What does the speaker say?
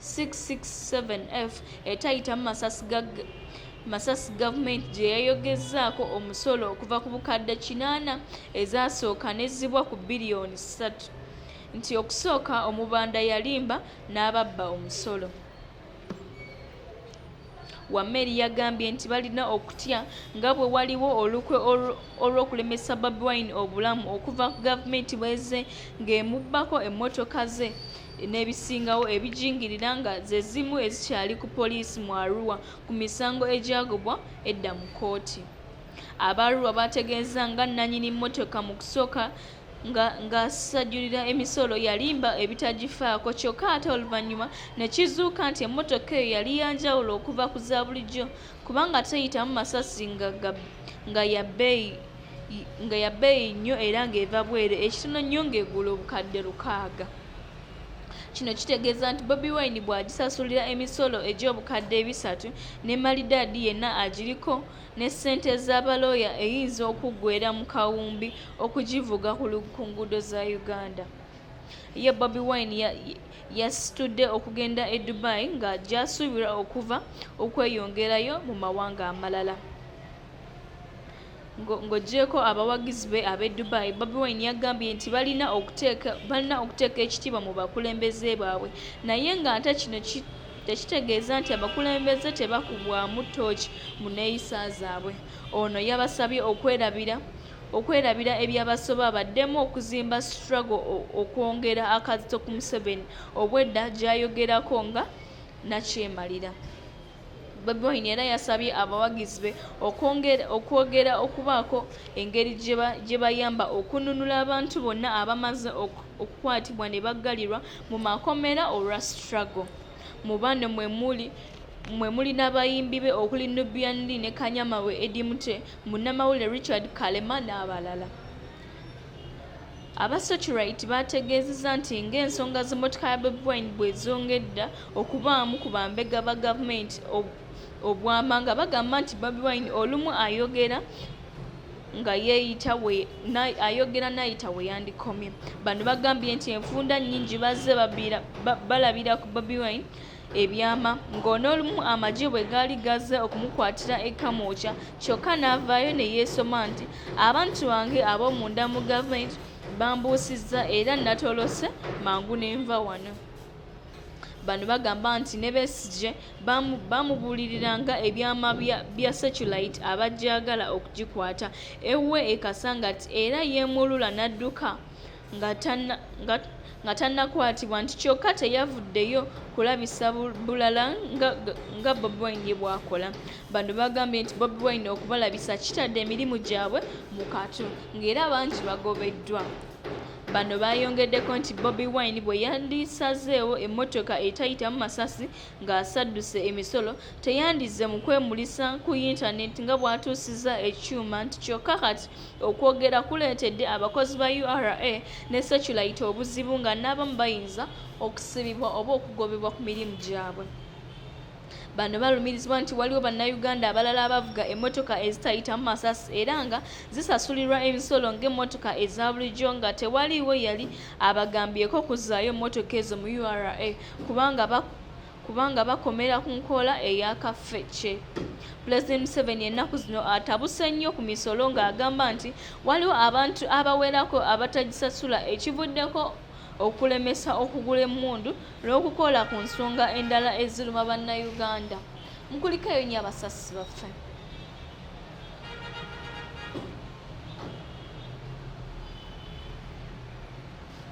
667F etayitamu masasi ga masasi gavumenti gye yayogezzaako omusolo okuva ku bukadde kinaana ezaasooka n'ezzibwa ku biliyoni ssatu nti okusooka omubanda yalimba n'ababba omusolo Wameli yagambye nti balina okutya nga bwe waliwo olukwe olw'okulemesa Bobi Wine obulamu okuva ku gavumenti bweze ng'emubbako emmotoka ze n'ebisingawo ebijingirira nga ze zimu ezikyali ku poliisi mu Arua ku misango egyagobwa edda mu kkooti. Aba Arua baategeezza nga nnanyini mmotoka mu kusooka nga ng'asajjulira emisolo yalimba ebitagifaako kyokka ate oluvannyuma ne kizuuka nti emmotoka eyo yali ya njawulo okuva ku za bulijjo kubanga teyitamu masasi nga ya bbeeyi nga ya bbeeyi nnyo era ng'eva bweru ekitono nnyo ng'egula obukadde lukaaga kino kitegeeza nti bobi wine bw'agisasulira emisolo egy'obukadde ebisatu ne malidaadi yenna agiriko ne ssente z'abalooya eyinza okuggweera mu kawumbi okugivuga ku nguudo za uganda ye bobi wine yasitudde okugenda e dubai nga gyasuubirwa okuva okweyongerayo mu mawanga amalala ng'ogyeko abawagizi be ab'e dubai bobi wine yagambye nti balina okuteeka ekitiibwa mu bakulembeze baabwe naye ng'ate kino tekitegeeza nti abakulembeze tebakubwamu ttooki mu nneeyisa zaabwe. Ono yabasabye okwerabira okwerabira ebyabasoba baddemu okuzimba struggle okwongera akazito ku Museveni obwedda gyayogerako nga nakyemalira. Bobi Wine era yasabye abawagizi be okwogera okubaako engeri gye bayamba okununula abantu bonna abamaze okukwatibwa ne baggalirwa Mu makomera olwa struggle. Mu bano mwe muli mwe muli n'abayimbi be okuli Nubian Li ne Kanyama we Eddy Mutwe, munnamawulire Richard Kalema n'abalala. Aba Searchlight baategeezezza nti ng'ensonga z'emmotoka ya Bobi Wine bwe zongedda okubaamu ku bambega ba gavumenti obwama nga bagamba nti Bobi Wine olumu ayogera nga yeeyita ayogera nayita we yandikomye bano bagambye nti enfunda nnyingi bazze balabira ku bobi wine ebyama ng'onoolumu amagye bwe gaali gazze okumukwatira e kamwokya kyokka n'avaayo ne yeesoma nti abantu bange ab'omunda mu gavumenti bambuusizza era natolose mangu ne nva wano bano bagamba nti ne besigye baamubuuliriranga ebyama bya seculayiti abajjagala okugikwata ewuwe e kasangati era yeemulula n'adduka nga tannakwatibwa nti kyokka teyavuddeyo kulabisa bulala nga bobi wine ye bw'akola bano bagambye nti bobi wine okubalabisa kitadde emirimu gyabwe mu katu ng'era bangi bagobeddwa bano baayongeddeko nti bobi wine bwe yandisazeewo emmotoka etayitamu masasi ng'asadduse emisolo teyandizze mu kwemulisa ku yintaneti nga bw'atuusizza ekyuma nti kyokka kati okwogera kuleetedde abakozi ba ura ne seculayiti obuzibu nga n'abamu bayinza okusibibwa oba okugobebwa ku mirimu gyabwe bano balumirizibwa nti waliwo bannayuganda abalala abavuga emmotoka ezitayitamu masasi era nga zisasulirwa emisolo ng'emmotoka eza bulijjo nga tewaliiwo yali abagambyeko kuzzaayo mmotoka ezo mu ura kubanga baku kubanga bakomera ku nkola eya kafece pulezidenti museveni ennaku zino atabuse nnyo ku misolo ng'agamba nti waliwo abantu abawerako abatagisasula ekivuddeko okulemesa okugula emmundu n'okukola ku nsonga endala eziruma bannayuganda mukulikeyo nnyo abasasi baffe